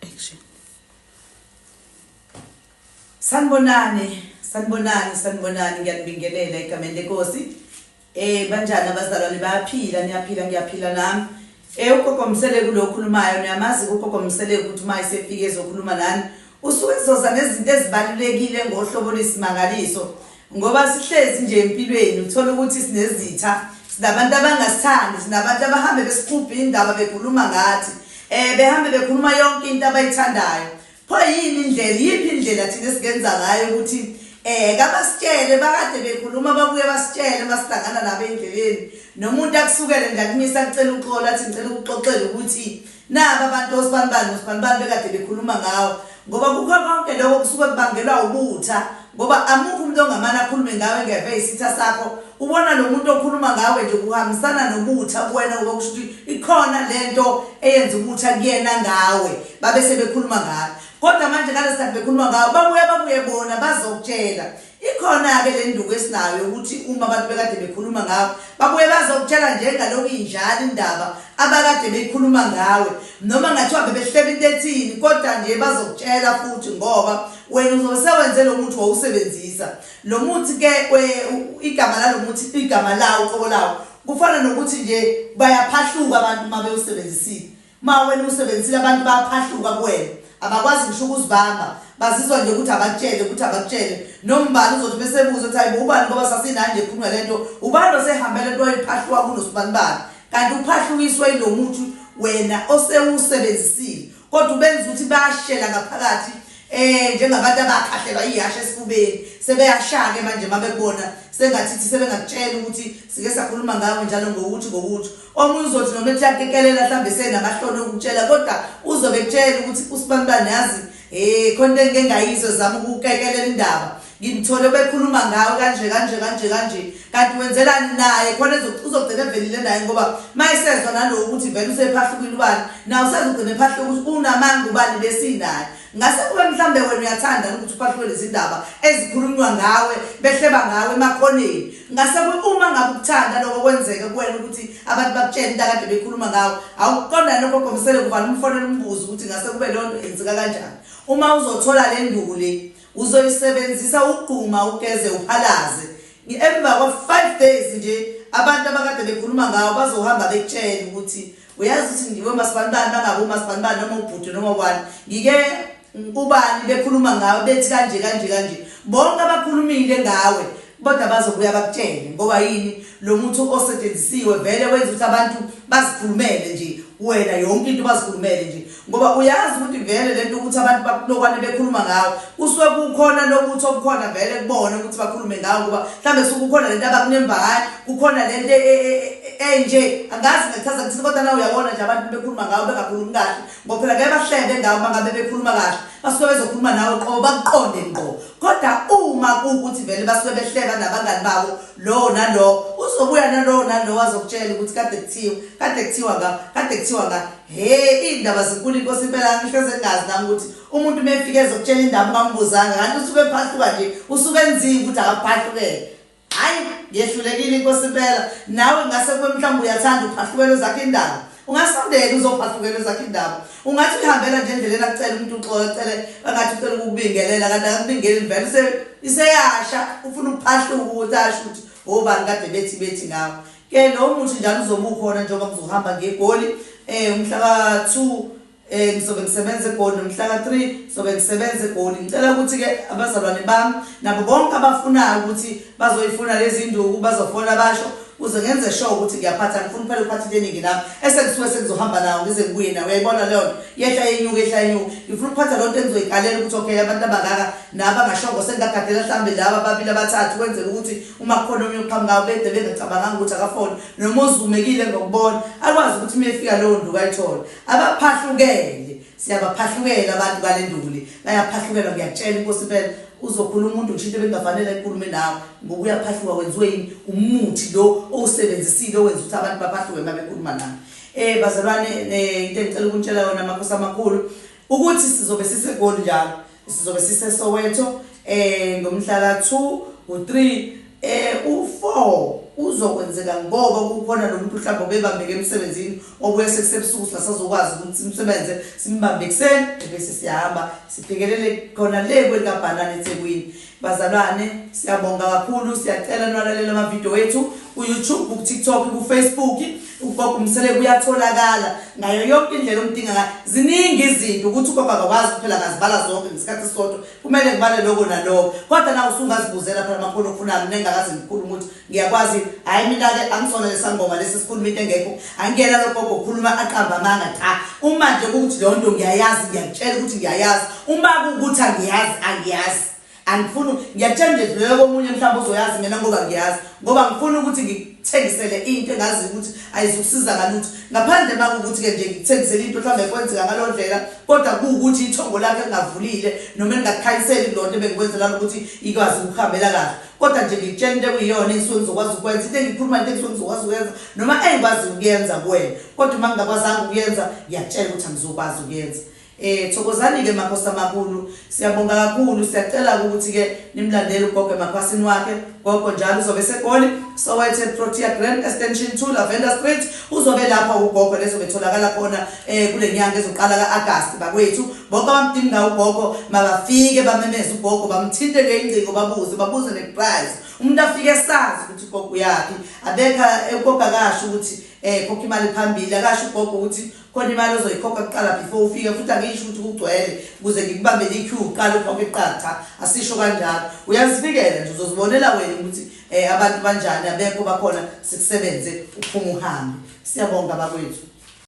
Action. Sanibonani, sanibonani, sanibonani ngiyanibingelela egameni lenkosi. Eh banjani abazalwane bayaphila niyaphila ngiyaphila nami. Eh ugogo Mseleku lo okhulumayo niyamazi ugogo Mseleku ukuthi uma esefike ezokhuluma nani usuke ezoza nezinto ezibalulekile ngohlobo lisimangaliso. Ngoba sihlezi nje empilweni uthola ukuthi sinezitha, sinabantu abangasithandi, sinabantu abahambe besiqubha indaba bekhuluma ngathi. Eh behambe bekhuluma yonke into abayithandayo. Pho yini indlela, yiphi indlela thina esingenza ngayo ukuthi eh kabasitshele bakade bekhuluma babuye basitshele masihlangana nabo endleleni. Nomuntu akusukele nje akumisa kucela uxolo athi ngicela ukuxoxela ukuthi Naba abantu osibanibani nosibanibani bekade bekhuluma ngawo ngoba kukho konke lokho kusuke kubangelwa ubutha ngoba amukho umuntu ongamane akhulume ngawe ngeve isitha sakho ubona lo muntu okhuluma ngawe nje kuhambisana nobutha kuwena ngoba kusho ukuthi ikhona le nto eyenza ubutha kuyena ngawe babe sebekhuluma ngawe kodwa manje ngalesikhathi bekhuluma ngawe babuye babuye bona bazokutshela Ikhona-ke le nduku esinayo yokuthi uma abantu bekade bekhuluma ngawe, babuye bazokutshela nje engalokhu injalo indaba abakade beyikhuluma ngawe. Noma kungathiwa bebehlela into ethini kodwa nje bazokutshela futhi ngoba wena uzobe sewenze lo muthi wawusebenzisa. Lo muthi-ke igama lalo muthi igama lawo uqobo lawo kufana nokuthi nje bayaphahluka abantu uma bewusebenzisile. Uma wena usebenzisile abantu bayaphahluka kuwena abakwazi ngisho ukuzibamba bazizwa nje ukuthi abakutshele ukuthi abakutshele nombani uzothi besebuza ukuthi hayibo ubani ngoba sasinayo nje ekhulunywa le nto ubani osehambele nto ephahluka kunosibanibani kanti uphahlukiswe yilo muthi wena osewusebenzisile kodwa ubenza ukuthi bashela ngaphakathi eh njengabantu abakhahlelwa ihashe esifubeni sebeyashake manje mabekubona sengathithi sebengakutshela ukuthi sike sakhuluma ngawe njalo ngokuthi ngokuthi Omunye uzothi noma ethi yakekelela mhlawumbe senabahlole ukutshela kodwa uzobe etshela ukuthi usibanibani yazi eh khona into engike ngayizwe zama ukukekelela indaba ngimthole bekhuluma ngawe kanje kanje kanje kanje kanti wenzelani naye khona uzogcina evelile naye ngoba mayesezwa nalowo ukuthi vele usephahlukile ubani nawe usezogcina ephahluka ukuthi unamanga ubani besinaye Ngase kube mhlawumbe wena uyathanda ukuthi uphahliwe lezindaba ezikhulunywa ngawe behleba ngawe emakhoneni. Ngase kube uma ngabe ukuthanda lokho kwenzeka kuwena ukuthi abantu bakutshele into akade bekhuluma ngawe, awukuqonda yini lokho gomisele kuvala umfonela umbuzo ukuthi ngase kube leyo nto yenzeka kanjani. Uma uzothola le nduku le, uzoyisebenzisa ugquma, ugeze, uphalaze. Emva kwa-five days nje abantu abakade bekhuluma ngawe bazohamba bekutshele ukuthi. uyazi ukuthi ngiwe masibanibani bangaku masibanibani noma ubhuti noma ubani ngike ubani bekhuluma ngawe bethi kanje kanje kanje bonke abakhulumile ngawe kodwa bazobuya bakutshele ngoba yini lo muntu osetshenzisiwe vele wenza ukuthi abantu bazikhulumele nje wena yonke into bazikhulumele nje ngoba uyazi ukuthi vele lento ukuthi abantu bakulokwane bekhuluma ngawo kusuke kukhona lokuthi okukhona vele kubona ukuthi bakhulume ngawo ngoba mhlawumbe suke kukhona lento abakunemba ngayo kukhona lento e, e, e, enje angazi ngachaza kuthini kodwa nawe uyabona nje abantu bekhuluma ngawo bengakhulumi kahle ngoba phela ngeke bahlebe ngawo bangabe bekhuluma kahle basuke bezokhuluma nawe qobo bakuqonde ngqo kodwa uma kuwukuthi vele basuke behleba nabangani babo lowo nalowo uzobuya nalowo nalowo azokutshela ukuthi kade kuthiwa kade kuthiwa ngawo kade kuthiwa ngawo Hey iy'ndaba zinkulu inkosi impela ngihleze ngazi nami ukuthi umuntu uma efike ezokutshela indaba ungambuzanga kanti usuke ephahluka nje usuke enzile ukuthi akaphahlukele hhayi ngehlulekile inkosi impela nawe ngase kube mhlawumbe uyathanda uphahlukelwe zakho indaba ungasondeli uzophahlukela ezakho indaba ungathi uyihambela nje endleleni akucela umuntu uxola cele angathi ucela ukubingelela kanti akubingeleli vele iseyasha ufuna ukuphahluka ukuthi asho ukuthi obani kade bethi bethi ngawo Ke lo muthi njalo uzobe ukhona njengoba ngizohamba ngeGoli eh umhla ka-2 eh ngizobe ngisebenza eGoli nomhla ka-3 ngizobe ngisebenza eGoli ngicela ukuthi ke abazalwane bami nabo bonke abafunayo ukuthi bazoyifuna lezi nduku bazofona basho uze ngenze sure ukuthi ngiyaphatha ngifuna phela ukuphatha into eningi nami esengisuke sengizohamba nawo ngize ngibuye nawo uyayibona leyo nto yehla yenyuka ehla yenyuka ngifuna ukuphatha loo nto engizoyikalela ukuthi okay abantu abangaka nabo angashongo sengingagadela mhlawumbe laba ababili abathathu kwenzela ukuthi uma kukhona omunye oqhamukayo bede bengacabanganga ukuthi akafone noma ozumekile ngokubona akwazi ukuthi uma efika lowo nduku ayithole abaphahlukele siyabaphahlukela abantu kale nduli bayaphahlukelwa ngiyakutshela inkosi impela uzokhula umuntu ngisho into ebengafanele ayikhulume nawe ngoba uyaphahluka wenziwe yini umuthi lo owusebenzisile owenza ukuthi abantu baphahluke uma bekhuluma nawe um bazalwane um into engicela ukuntshela yona amakhosi amakhulu ukuthi sizobe sisegoli njalo Sizobe siseSoweto eh ngomhlaka 2 u3 eh u4 uzokwenzeka ngoba kukhona nomuntu mhlawumbe obebambeke emsebenzini obuye sekusebusuku singasazokwazi ukuthi simsebenze simbambe ekuseni bese siyahamba sibhekelele khona le kwelikabhanana ethekwini Bazalwane siyabonga kakhulu siyacela nwalalele ama video wethu ku YouTube ku TikTok ku Facebook ugogo umsele kuyatholakala ngayo yonke indlela omdinga ngayo ziningi izinto ukuthi ugogo akakwazi kuphela ngazibala zonke ngesikhathi sodwa kumele ngibale lokho nalokho kodwa na usungazibuzela phela amakhulu ofunani nengakazi ngikhulu ukuthi Ngiyakwazi hayi mina ke angisona lesangoma lesi sikhuluma into engekho angiyena logogo ukhuluma aqamba amanga cha uma nje ukuthi leyo nto ngiyayazi ngiyakutshela ukuthi ngiyayazi uma kukuthi angiyazi angiyazi angifuni ngiyakutshela nje dlulele komunye mhlawumbe uzoyazi mina ngoba ngiyazi ngoba ngifuna ukuthi ngikuthengisele into engazi ukuthi ayizukusiza ngalutho ngaphandle uma kukuthi-ke nje ngikuthengisele into mhlawumbe kwenzeka ngalo ndlela kodwa kuwukuthi ithongo lakhe lingavulile noma lingakukhanyiseli kulonto ebengikwenzela ukuthi ikwazi ukuhambela kahle kodwa nje ngikutshela into ekuyiyona engisuke ngizokwazi ukwenza into engikhuluma into engisuke ngizokwazi ukuyenza noma engikwazi ukuyenza kuwena kodwa uma ngingakwazanga ukuyenza ngiyakutshela ukuthi angizokwazi ukuyenza Eh thokozani ke makhosi amakhulu siyabonga kakhulu siyacela ukuthi ke nimlandele ugogo emakhwasini wakhe gogo njalo uzobe segoli sowethe Protea Grand Extension 2 Lavender Street uzobe lapha ugogo lezo betholakala khona eh kulenyanga ezoqala kaAugust bakwethu Bonke abamdinga ugogo makafike bamemeze ugogo bamthinte ngeyingcingo babuze babuze neprize. Umuntu afike esazi ukuthi ugogo uyaphi. Abekha ugogo akasho ukuthi eh khokha imali phambili akasho ugogo ukuthi khona imali ozoyikhokha kuqala before ufike futhi angisho ukuthi kugcwele ukuze ngikubambele iq uqala ukhokhe kuqala cha asisho kanjalo uyazifikela nje uzozibonela wena ukuthi eh abantu banjani abekho bakhona sikusebenze uphuma uhambe siyabonga bakwethu